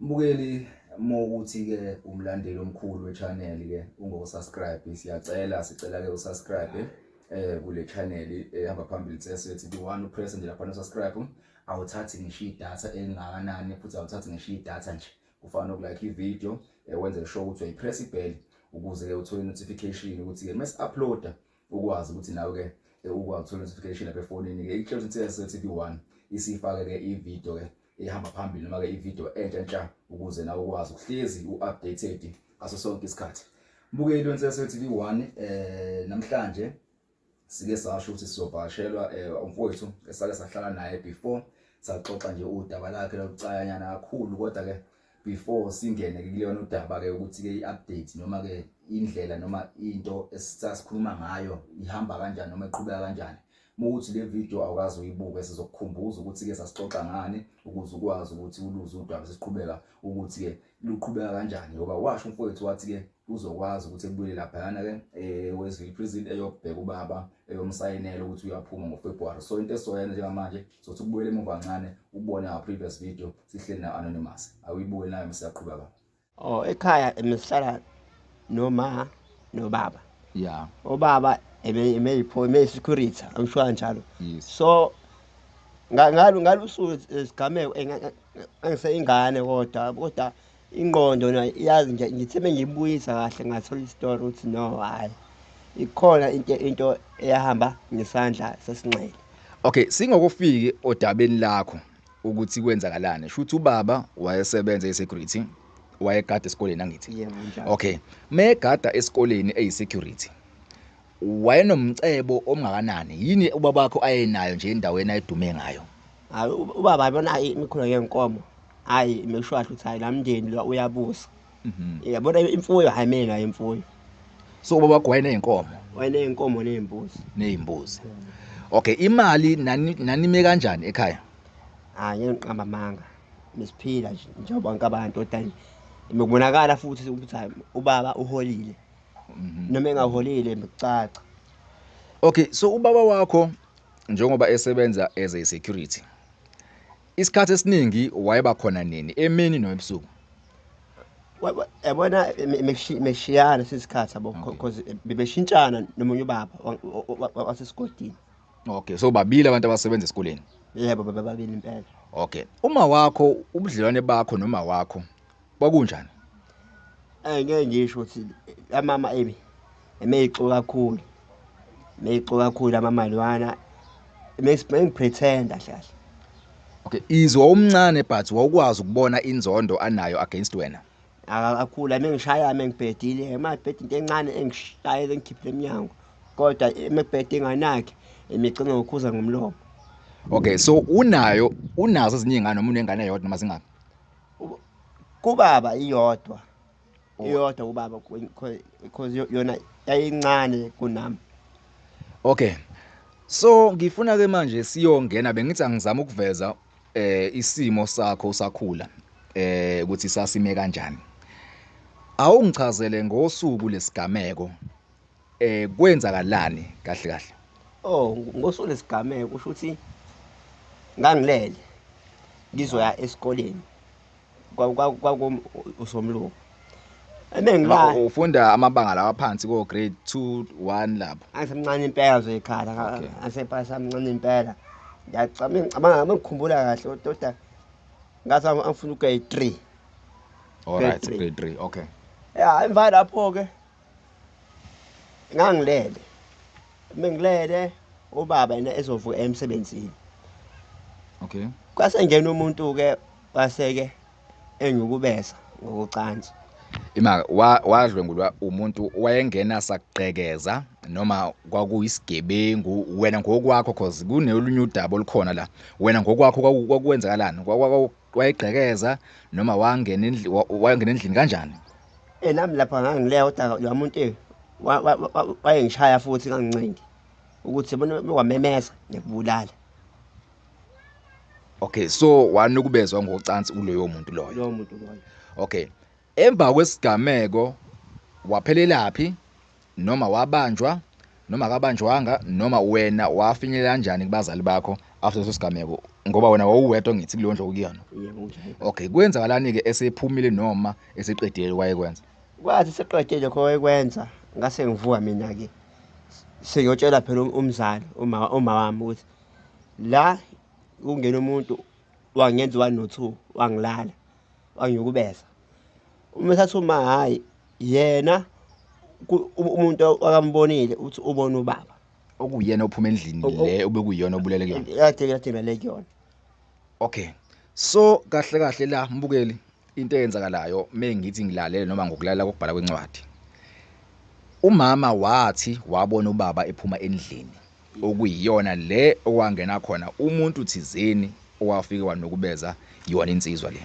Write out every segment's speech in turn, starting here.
Mbukeli uma ukuthi-ke umlandeli omkhulu we-channel ke ungokusubscribe siyacela sicela ke usubscribe eh kule channel ehamba phambili sesethi the one upress nje lapha usubscribe awuthathi ngisho idatha elingakanani futhi awuthathi ngisho idatha nje kufana nokulike ivideo eh, wenze sure ukuthi uyayipress ibell ukuze ke uthole notification ukuthi ke mase uploader ukwazi ukuthi nawe ke eh, ukwazi ukuthola notification lapha efonini ke iCloud TSL TV1 isifake ke ivideo ke ehamba phambili noma ke ivideo entsha entsha ukuze nawe ukwazi ukuhlezi uupdated ngaso sonke isikhathi mbukeli weNtsese TV1 eh namhlanje sike sasho ukuthi sizobhashelwa eh, umfowethu esake sahlala naye before saxoxa nje udaba lakhe lokucayanyana kakhulu kodwa ke before singene ke kuleyona udaba ke ukuthi ke iupdate noma ke indlela noma into esasikhuluma ngayo ihamba kanjani noma iqhubeka kanjani ukuthi le video awukazi uyibuke sizokukhumbuza ukuthi ke sasixoxa ngani ukuze ukwazi ukuthi uluze udaba sesiqhubeka ukuthi ke luqhubeka kanjani ngoba washo umfowethu wathi ke uzokwazi ukuthi ebuyele laphayana ke eh Westville prison eyobheka ubaba eyomsayinela ukuthi uyaphuma ngoFebruary so into esoyenza njengamanje sothi ukubuyele emuva kancane ubone our previous video sihleli na anonymous awuyibuke nayo msaqhuba ka oh ekhaya emsihlala noma nobaba yeah obaba emeyipho emeyisecurity i'm sure kanjalo yes. so ngalo ngalusuku isigameko engiseyingane kodwa kodwa ingqondo na iyazi nje ngithe mengiyibuyisa kahle ngathola istory ukuthi no hayi ikhona into into eyahamba ngesandla sesinxele okay singokufiki odabeni lakho ukuthi kwenzakalani shuthi ubaba wayesebenza esecurity wayegada esikoleni angithi okay megada esikoleni eyisecurity wayenomcebo omngakanani yini ubaba wakho ayenayo nje endaweni ayedume ngayo hayi ubaba yabona imikhulo yenkomo hayi imeshwasha uthi hayi lamndeni lo uyabusa yabona imfuyo hayi mina imfuyo so baba wakho wayeneyinkomo wayeneyinkomo nezimbuzi nezimbuzi okay imali nani nanime kanjani ekhaya hayi ngiqamba amanga nisiphila nje njengoba bonke abantu kodwa nje bekubonakala futhi ukuthi hayi ubaba uholile Mhm. noma engaholile bekucaca okay so ubaba wakho njengoba esebenza as a security Isikhathi esiningi wayeba khona nini emini noebusuku? yabona meshiyana sesikhathi yabo because eh, bebeshintshana nomunye ubaba wasesigodini okay so babili abantu abasebenza esikoleni yebo bababili impela okay uma wakho ubudlelwane bakho noma wakho kwakunjani Eh ngeke ngisho ukuthi amama emi emeyixo kakhulu. Meyixo kakhulu amama lwana. Mengipretenda hlahla. Okay, izwa umncane but wawukwazi ukubona inzondo anayo against wena. Akakhula mengishaya mengibhedile, emabhedi into encane engishaye engikhiphile emnyango. Kodwa emebhedi enganakhe emigcina ngokhuza ngomlomo. Okay, so unayo unazo ezinye ingane noma unengane yodwa noma zingaki? kubaba iyodwa oh. iyodwa kubaba because yona yayincane kunami okay so ngifuna ke manje siyongena bengithi angizama ukuveza eh isimo sakho usakhula eh ukuthi sasime kanjani awungichazele ngosuku lesigameko eh kwenzakalani kahle kahle oh ngosuku lesigameko kusho ukuthi ngangilele ngizoya esikoleni kwakusomlungu ebengilala ufunda amabanga lawa phansi ko grade 2 1 lapho angisemncane impela nje ekhala angisepasa mncane impela ngiyacabanga ngicabanga ngikhumbula kahle ododa ngathi angifuna ugrade 3 all right grade 3 okay ya emva lapho ke ngangilele mengilele ubaba yena ezovuka emsebenzini okay kwase ngena umuntu ke waseke engikubeza ngokucansi ima wadlwengulwa umuntu wayengena sakugqekeza noma kwakuyisigebengu wena ngokwakho cause kunelunye udaba olukhona la wena ngokwakho kwakwenzakalani wayegqekeza noma wangena endlini wayongena endlini kanjani eh nami lapha ngangileya kodwa lo muntu eh, wayengishaya futhi ngangincengi ukuthi bona wamemeza ngikubulala okay so wanukubezwa ngocansi uloyo muntu loyo loyo muntu loyo okay Emva kwesigameko waphelelaphi noma wabanjwa noma akabanjwanga noma wena wafinyelela kanjani kubazali bakho after leso sigameko ngoba wena wawuwedwa ngithi kuleyo ndlu okuyona okay kwenzakalani-ke esephumile noma eseqedile wayekwenza kwathi seqedile lokho wayekwenza ngase ngivuka mina-ke sengiyotshela phela um-, umzali uma wami ukuthi la kungena umuntu wangenza one no two wangilala bangiyukubeza uma esathi uma hhayi yena umuntu akambonile ukuthi ubona ubaba okuyena ophuma endlini le obekuyona obulele kuyona yade yade ngale kuyona okay so kahle kahle la mbukeli into eyenzakalayo mengithi ngilalele noma ngokulalela kokubhala kwencwadi umama wathi wabona ubaba ephuma endlini okuyiyona le owangena khona umuntu thizeni owafike wanukubeza yona insizwa le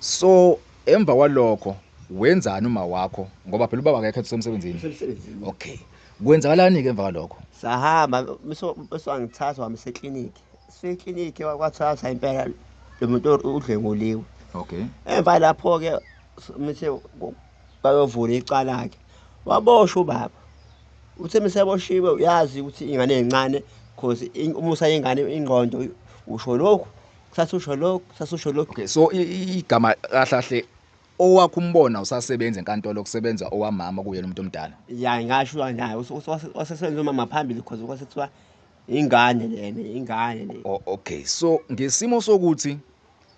so emva kwalokho wenzani uma wakho ngoba phela ubaba akekho esemsebenzini okay kwenzakalani ke emva kwalokho sahamba uswangithatha wami seclinic seclinic wakwathatha impela lo muntu udlenguliwe okay emva lapho ke mithe bayovula icala-ke waboshwa ubaba uthe meseboshiwe uyazi ukuthi ingane encane cause umusa yengane ingqondo usho lokhu kusasa usho lokhu kusasa usho lokhu okay so igama kahlahle owakho umbona usasebenza enkantolo kusebenza owamama kuyena umuntu omdala ya ngasho naye wasesebenza umama phambili cause kwasethiwa ingane lena ingane le okay so ngesimo sokuthi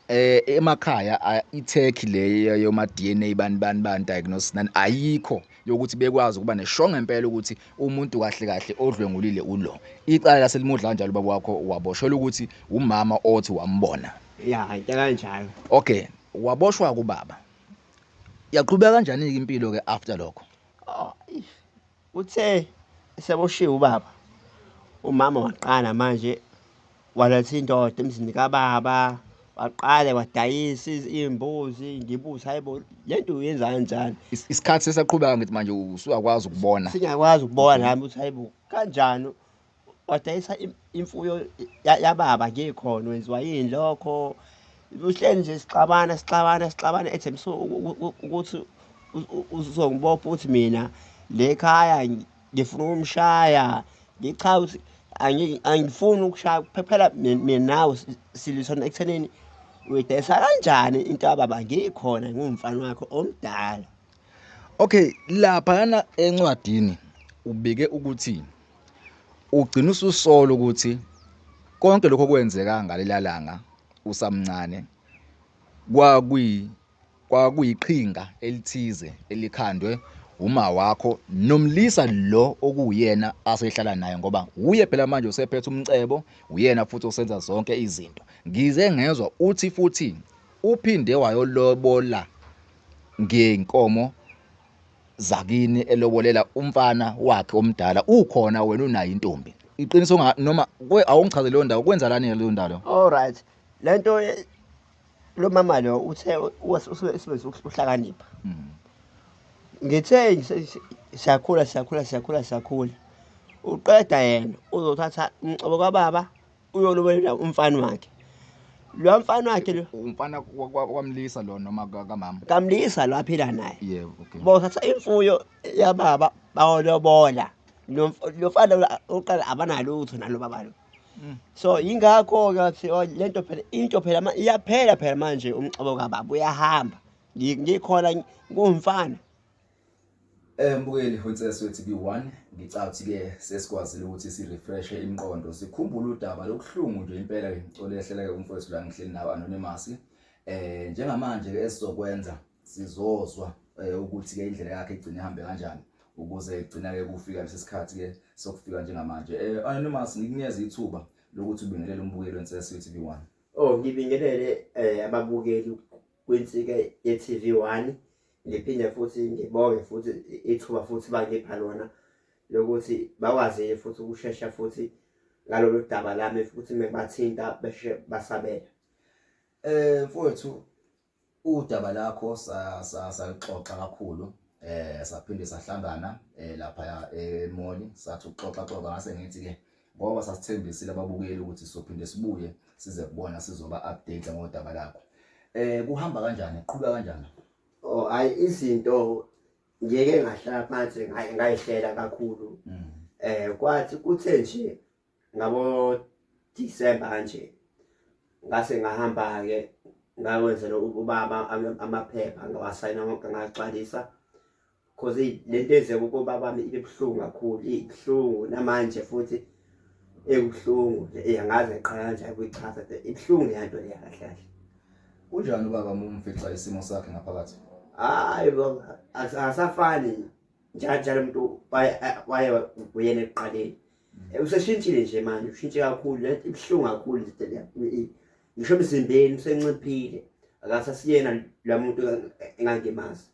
eh emakhaya iTurkey le yoma DNA bani bani bani diagnosis nani ayikho yokuthi bekwazi ukuba nesho ngempela ukuthi umuntu kahle kahle odlwengulile ulo icala laselimudla kanjalo baba wakho waboshelwa ukuthi umama othi wambona ya kanjalo okay waboshwa kubaba yaqhubeka kanjani impilo ke after lokho oh, Uthe eseboshiwe ubaba, umama waqala manje waletha indoda emzini kababa, waqale wadayisa iy'mbuzi, ngibuze hhayi bo, le nto uyenza kanjani? Isikhathi sesaqhubeka ngithi manje usuyakwazi ukubona. Singakwazi ukubona nami ukuthi hhayi bo, kanjani wadayisa imfuyo yababa ngikhona wenziwa yini lokho uhleli nje sixabana sixabana sixabana ethembisa ukuthi uzongibopha ukuthi mina le khaya ngifuna ukumshaya ngichaza ukuthi angifuni ukushaya phela mina nawe silisona ekuthenini uyidayisa kanjani into yababa ngikhona ngumfana wakho omdala Okay, laphana encwadini ubike ukuthi ugcina ususola ukuthi konke lokho kwenzeka ngalelalanga usamncane kwakuyi kwakuyiqhinga elithize elikhandwe uma wakho nomlisa lo okuwuyena asehlala naye ngoba uye phela manje usephethe umcebo uyena futhi osenza zonke izinto ngize ngezwa uthi futhi Uphinde wayolobola ngenkomo zakini elobolela umfana wakhe omdala ukhona wena unayo intombi iqiniso noma awungichaze leyo ndawo kwenza lani leyo ndawo all right le nto lo mama lo uthe usebenzisa ukuhlakanipha hmm. ngithe siyakhula siyakhula siyakhula siyakhula uqeda yena uzothatha umcobo kababa uyolobela umfana wakhe lo mfana wakhe lo umfana kwamlisa lo noma kamama kamlisa lo aphila naye yebo okay bothatha imfuyo yababa bawolobola lo mfana uqala abanalutho nalo baba lo Mm. so yingakho-ke athi oh, le nto phela into phela iyaphela phela manje umxobo kababa uyahamba ngikhona kuwumfana Eh mbukeli Princess wethu B1 ngicabanga ukuthi ke sesikwazile ukuthi si refresh imiqondo sikhumbule udaba lokuhlungu nje impela ke ngicela ehlela ke umfowethu la ngihleli nawe anonymous eh njengamanje ke esizokwenza sizozwa eh, ukuthi ke indlela yakhe igcine ihambe kanjani ukuze igcina ke kufika lesikhathi ke sokufika njengamanje eh anonymous ngikunyeza ithuba lokuthi ubingelele umbukeli wensesi TV1 oh ngibingelele eh ababukeli kwinsika ye-TV one ngiphinde futhi ngibonge futhi ithuba futhi bangipha lona lokuthi bakwazile futhi ukushesha futhi ngalolu daba lami futhi mebathinta beshe basabela eh mfowethu udaba lakho saluxoxa kakhulu eh saphinde sahlangana eh, lapha emoli sathi uxoxa xoxa ngase ngithi ke ngoba sasithembisile ababukeli ukuthi sizophinde sibuye size kubona sizoba update ngodaba lakho eh kuhamba kanjani qhubeka kanjani oh hayi izinto ngeke ngahlala phansi ngayihlela kakhulu mm. eh kwathi kuthe nje ngabo December nje ngase ngahamba ke ngakwenzela ubaba amaphepha ngawasayina wonke ngagcwalisa cause lento ezeke ukobabami ibebuhlungu kakhulu ibuhlungu namanje futhi ebuhlungu yangaze qala nje kuyichaza ibuhlungu lento leya kahle kahle kunjani ubaba mumfica isimo sakhe ngaphakathi hayi asafani njalo njalo umuntu waye uyena ekuqaleni mm. useshintshile nje manje ushintshe kakhulu lento ibuhlungu kakhulu lento leya ngisho emzimbeni usenciphile akasasiyena la muntu engangemazi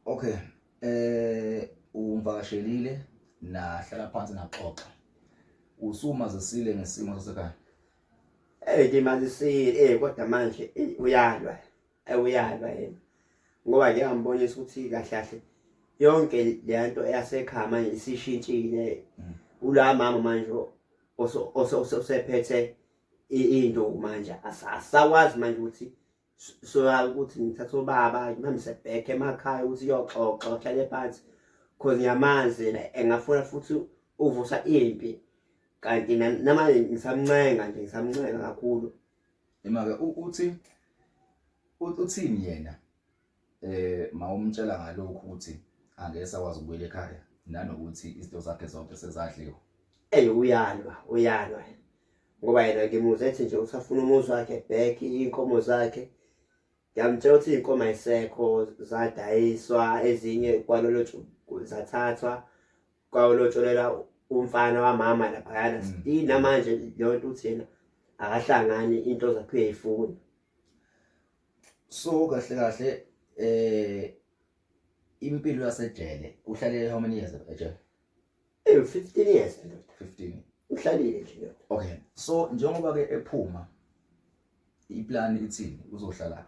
Okay. Eh ungivakashelile nahlala phansi naxoxa. Usumazisile ngesimo sasekhaya. Eh ngimazisile eh kodwa manje uyalwa. Eh uyalwa yena. Ngoba ke ngambonisa ukuthi kahle kahle yonke lento eyasekhaya manje isishintshile. Mm. Ula mama manje osephethe into manje asakwazi manje ukuthi so ukuthi ngithatha ubaba ngimhambise back emakhaya ukuthi uyoxoxa uhlale phansi cause ngiyamazi engafuna futhi uvusa impi kanti namanje ngisamncenga nje ngisamncenga kakhulu imake uthi uthini yena eh mawumtshela ngalokho ukuthi angeke sakwazi ukubuyela ekhaya nanokuthi izinto zakhe zonke sezadliwa ey uyalwa uyalwa ngoba yena ngimuze ethi nje usafuna umuzi wakhe back inkomo zakhe ngiyamtshela ukuthi inkomo ayisekho zadayiswa ezinye kwalolo zathathwa kwalotsholela umfana wamama laphayana mm. still namanje leyo nto uthi yena akahlangani into zakhe uyayifuna so kahle kahle eh impilo yasejele uhlalele how many years ejele eh 15 years 15 uhlalile nje okay so njengoba ke ephuma iplan ithini uzohlala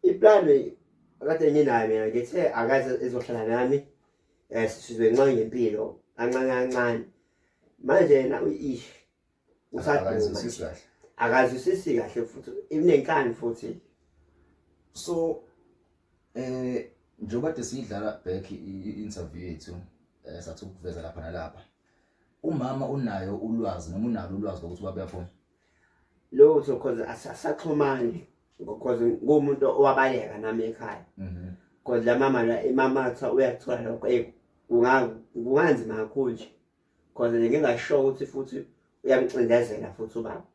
iplan kade nginayo mina ngithe akaze ezohlala nami eh sizwe nxa ngempilo kancane kancane manje na uyishi akazwisisi kahle akazwisisi kahle futhi inenkani futhi so eh njengoba de sidlala back i-interview yethu eh, sathi ukuveza lapha nalapha umama unayo ulwazi noma unalo ulwazi lokuthi ubaba uyafona lutho cause asasaxhumani because ngumuntu owabaleka nami ekhaya mhm. cause la mama la imama kuthiwa uyakuthola lokho kunganzima kakhulu nje cause nje ngingasho ukuthi futhi uyamcindezela futhi ubaba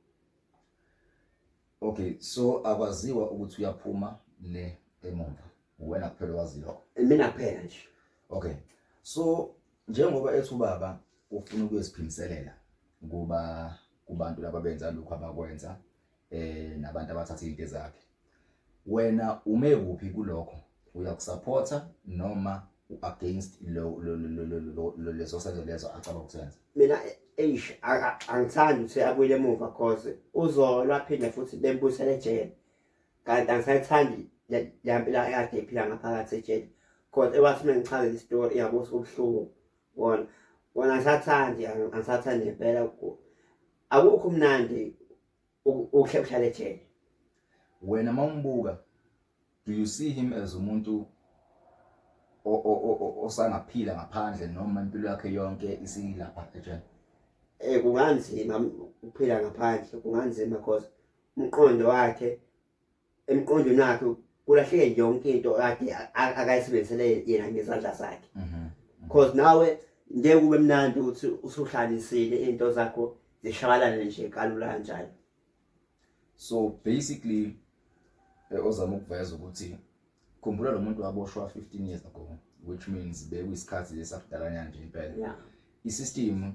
okay so akwaziwa ukuthi uyaphuma le emuva uwena kuphela owaziyo mina kuphela nje okay so njengoba ethi ubaba ufuna ukuyosiphindiselela kuba kubantu laba benza lokho abakwenza eh nabantu abathatha into zakhe wena ume kuphi kulokho uyakusupporta noma against lo leso senzo lezo acaba ukusenza mina eish angithandi ukuthi abuyele emuva cause uzolwa phinde futhi bembusele ejele kanti angisayithandi yampila yakhe iphila ngaphakathi ejele cause ewathi mina ngichaze istory iyabusa ubuhlungu wona wona angisathandi angisathandi ngempela akukho umnandi ukhe uhlale ejele wena mawumbuka do you see him as umuntu osangaphila ngaphandle noma impilo yakhe yonke isilapha ejele eh kunganzima ukuphila ngaphandle kunganzima because umqondo wakhe emqondweni wakhe kulahleke yonke into kade akayisebenzisele yena ngezandla zakhe mhm, mhm. cause nawe ngeke ube mnandi ukuthi usuhlanisile into zakho zishabalane nje kalula kanjalo so basically eh, ozama ukuveza ukuthi khumbula lo muntu waboshwa 15 years ago which means bekuyisikhathi lesakudalanyana nje impela yeah. i-system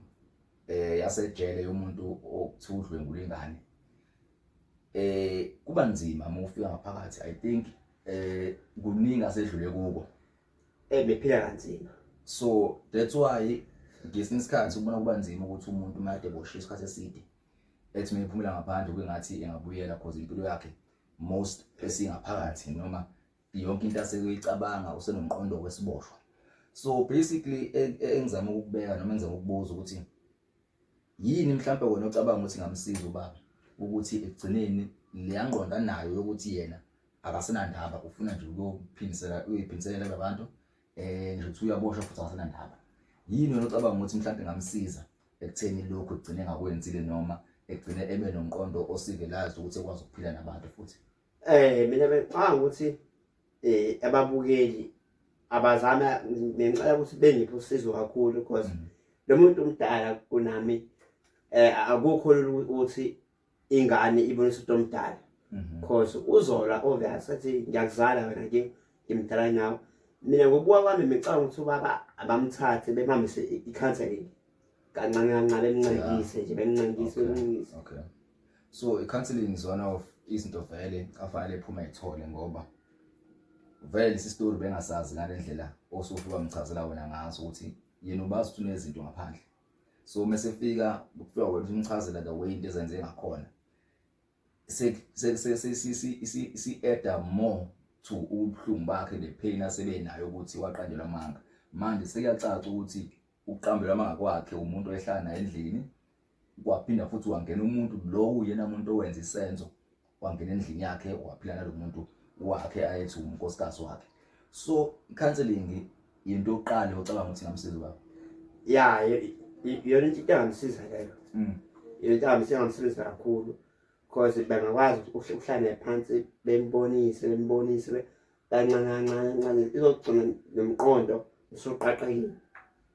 eh yasejele yomuntu okuthiwa udlwengula ingane eh kuba nzima uma ufika ngaphakathi i think eh kuningi asedlule kuko ebephila kanzima so that's why ngesinye isikhathi ubona kuba nzima ukuthi umuntu uma ade boshe isikhathi eside ethi mina iphumela ngaphandle kungathi engabuyela cause impilo yakhe most esingaphakathi noma yonke into aseyicabanga usenomqondo wesiboshwa so basically e, e, engizama ukubeka noma engizama ukubuza ukuthi Yini mhlawumbe wena ocabanga ukuthi ngamsiza ubaba ukuthi ekugcineni leya ngqondo anayo yokuthi yena akasenandaba ufuna nje ukuyophindisela uyophindisela labantu eh nje uthi uyaboshwa futhi akasenandaba yini wena ocabanga ukuthi mhlawumbe ngamsiza ekutheni lokho egcine ngakwenzile noma egcine ebe nomqondo osivelazi ukuthi ekwazi ukuphila nabantu futhi Eh mina bengicabanga ukuthi eh ababukeli abazama ngicela ukuthi bengiphe usizo kakhulu because mm. lo muntu omdala kunami eh akukho ukuthi ingane ibonisa umuntu omdala mm-hmm. because uzola obvious athi ngiyakuzala wena ke ngimdala nawe mina ngokubuka kwami ngicabanga ukuthi ubaba abamthathe bemhambise i-counseling kancane kancane bemncedise nje bemncedise bemncedise so i-counseling is one of izinto vele afanele phuma ithole ngoba vele lesi story bengasazi ngale ndlela osuke wamchazela wena ngaso ukuthi yena ubazi ukuthi unezinto ngaphandle so uma sefika kuthiwa wena umchazela the way into ezenze ngakhona si-adda more to ubuhlungu bakhe ne-pain asebenayo ukuthi waqanjelwa amanga manje sekuyacaca ukuthi ukuqambela amanga kwakhe umuntu oyehlala naye endlini kwaphinda futhi wangena umuntu lowo yena muntu owenza isenzo wangena endlini yakhe waphila nalo muntu wakhe ayethi unkosikazi wakhe so counseling yinto yokuqala ocabanga ukuthi ngamsiza baba ya yona into engangisiza leyo mm. into engangisiza kakhulu because bengakwazi ukuhlale phansi bembonise bembonise kancane kancane kancane izogcina nomqondo usuqaqekile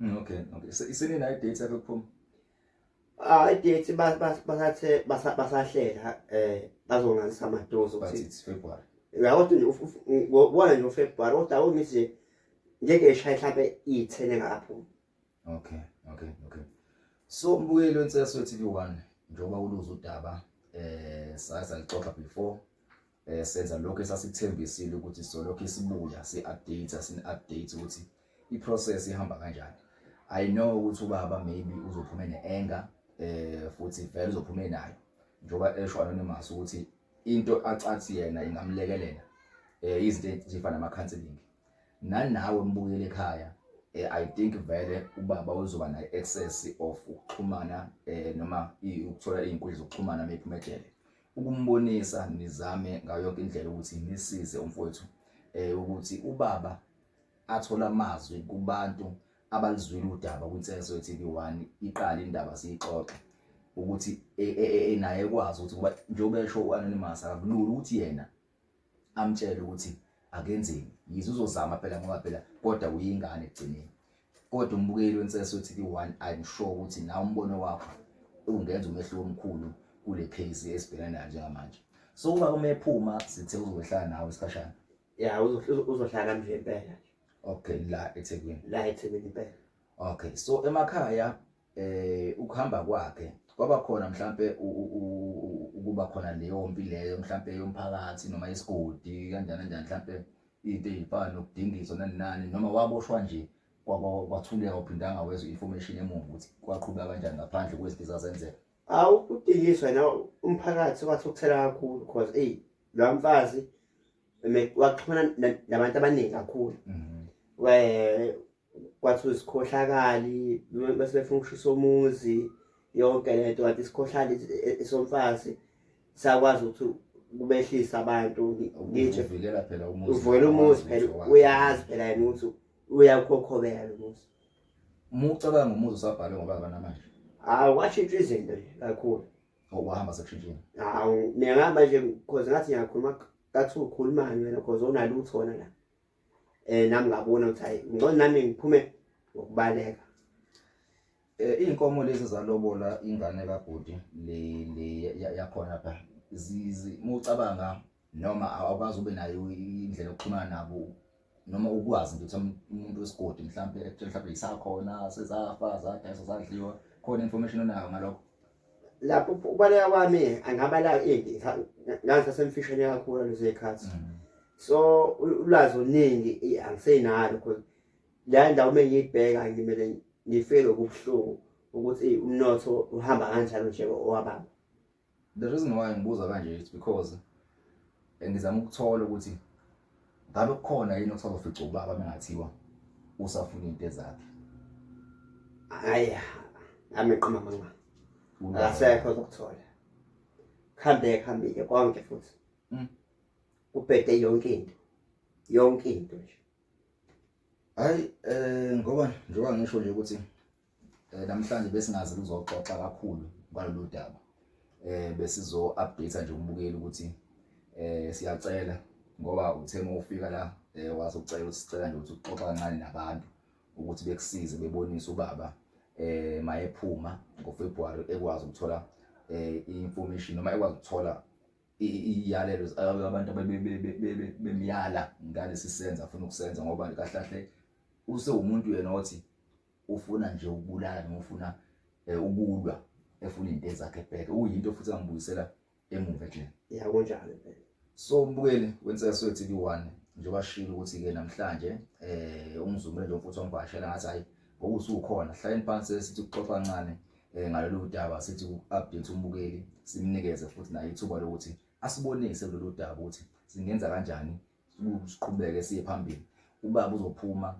mm, okay okay isini nayo date yakho kuphuma ah idate basathe basahlela eh bazongazisa amadozi ukuthi it's February uyabo ukuthi ubona nje uFebruary kodwa awumithi ngeke eshaye mhlambe iyithene ngapho okay okay okay so mbuyelo inselo TV1 njengoba uluza udaba eh saza lixoxa before eh senza lokho esasikuthembisile ukuthi solokho isibuya si update sin update ukuthi i process ihamba kanjani i know ukuthi ubaba maybe uzophuma ne anger eh futhi vele uzophuma nayo njoba esho anonymous ukuthi into acathi yena ingamlekelela eh izinto ezifana nama counseling nanawe mbuyele ekhaya eh, i think vele ubaba uzoba na excess of ukuxhumana eh noma ukuthola izinkundla zokuxhumana mephumelele ukumbonisa nizame ngayo yonke indlela ukuthi nisize umfowethu eh ukuthi ubaba athola amazwi kubantu abalizwile udaba kwiNselezo TV1 iqala indaba siyixoxe ukuthi e, e, e, naye ekwazi ukuthi kuba njengoba esho uAnonymous akulula ukuthi yena amtshele ukuthi akenzeni yize uzozama phela ngoba phela kodwa uyingane ekugcineni kodwa umbukeli wensese uthi ki-one i'm sure ukuthi nawe umbono wakho ungenza umehluko omkhulu kule case esibhekana nayo njengamanje so uba uma ephuma sithe uzohlala nawe isikhashana ya uzohlala nami nje impela okay la ethekwini la ethekwini impela okay so emakhaya eh ukuhamba kwakhe kwaba khona mhlambe ukuba khona leyo mpi leyo mhlambe yomphakathi noma isigodi kanjani kanjani mhlambe into ezifana nokudingiswa nani nani noma waboshwa nje kwathuleka uphindanga wezwe information emuva ukuthi kwaqhuba kanjani ngaphandle kwezinto zazenzeka awu udingiswa na umphakathi wathi ukuthela kakhulu because ey lo mfazi waxhumana nabantu abaningi kakhulu mhm. kwathi usikhohlakali bese befuna ukushisa umuzi yonke le nto kanti isikhohlali esomfazi sakwazi ukuthi kubehlisa abantu ngitsho uvikela phela umuzi uvikela umuzi phela uyazi phela yena ukuthi uyakhokhobela lo muzi uma ucabanga umuzi usabhalwe ngoba abanamanje hawu kwashintsha izinto nje kakhulu ngokuhamba sekushintshile hawu mina ngihamba nje because ngathi ngiyakhuluma kathi ukhulumani wena because unalutho wona la eh nami ngabona ukuthi hayi ngcono nami ngiphume ngokubaleka eh inkomo lezi zalobola ingane kabhuti le le yakhona pha zizi mucabanga noma awukazi ube nayo indlela yokuxhumana nabo noma ukwazi nje ukuthi umuntu wesigodi mhlambe ekutshela mhlambe isakhona sezafa zadayisa zadliwa khona information onayo ngalokho lapho ukubaleka kwami angabala into ngaze semfishane kakhulu lezo zikhathi mm. so ulwazi oluningi angisenalo because la ndawo uma ngiyibheka ngimele ngifike lokubuhlungu ukuthi umnotho uhamba kanjalo nje owababa the reason why ngibuza kanje is because ngizama ukuthola ukuthi ngabe kukhona yini okusazofica ubaba mengathiwa usafuna into ezakhe hayi ameqoma mama akasekho zokuthola kuhambe kuhambile konke futhi mm. kubhede yonke into yonke into nje hayi eh ngoba njengoba ngisho nje ukuthi Eh namhlanje besingazi kuzoxoxa kakhulu ngalolu daba. Eh besizo update nje umbukeli ukuthi eh siyacela ngoba uthe uma ufika la eh wazocela usicela nje ukuthi uxoxa kancane nabantu ukuthi bekusize bebonise ubaba eh mayephuma ngoFebruary ekwazi ukuthola eh information noma ekwazi ukuthola iyalelo abantu bemyala ngalesi senza afuna ukusenza ngoba kahlahle usewumuntu yena othi ufuna nje ukubulala noma ufuna eh, ukulwa efuna into ezakhe back uyinto futhi angibuyisela emuva nje yeah kunjalo impela so mbukeli wenseswe TV 1 njengoba shilo ukuthi ke namhlanje eh umzumile lo mfuthu wangivashela ngathi hayi ngokusukhona hlayeni phansi sithi kuxoxa kancane eh ngalolu daba sithi update umbukeli simnikeze futhi naye ithuba lokuthi asibonise kulolu daba ukuthi singenza kanjani siqhubeke siye phambili ubaba uzophuma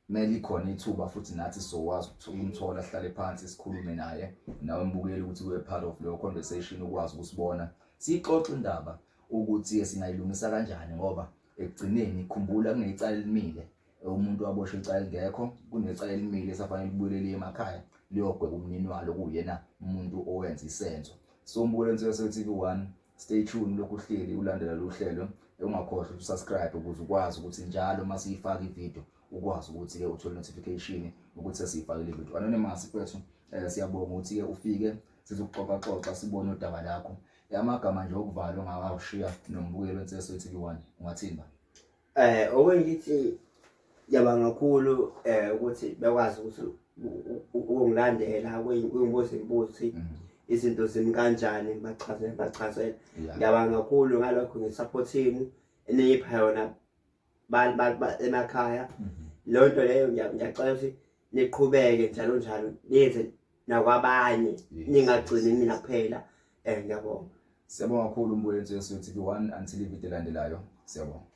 kumele ikhona ithuba futhi nathi sizokwazi ukuthi umthola sihlale phansi sikhulume naye nawe mbukeli ukuthi we part of leyo conversation ukwazi ukusibona siyixoxe indaba ukuthi singayilungisa kanjani ngoba ekugcineni khumbula kunecala elimile umuntu waboshwa icala elingekho kunecala elimile esafanele libuyelele emakhaya liyogweba umnini walo kuyena umuntu owenza isenzo so mbukele nsizwa se-tv one Stay tuned lokhu uhleli ulandela lo hlelo ungakhohlwa ukusubscribe ukuze ukwazi ukuthi njalo uma siyifaka ivideo ukwazi ukuthi-ke uthole notification ukuthi sesiyifakile ivideo anonymous kwethu um eh, siyabonga ukuthi-ke ufike sizokuxoxaxoxa sibone udaba lakho amagama nje okuvalwa ngawashiya nombukelo enseso etv one ungathini ba Eh okunye ngithi yabanga kakhulu eh ukuthi bekwazi ukuthi ukungilandela kuyingibuza imibuzo ukuthi mm. izinto zimi kanjani ngibachazele ngibachazele ngiyabanga kakhulu ngalokho ngisaphothini eniyipha yona emakhaya mm-hmm. leyo nto leyo ngiyacela ukuthi niqhubeke njalo njalo niyenze nakwabanye ningagcini mina kuphela um ngiyabonga siyabonga kakhulu umbuyeletso yesu tv one until ividiyo elandelayo siyabonga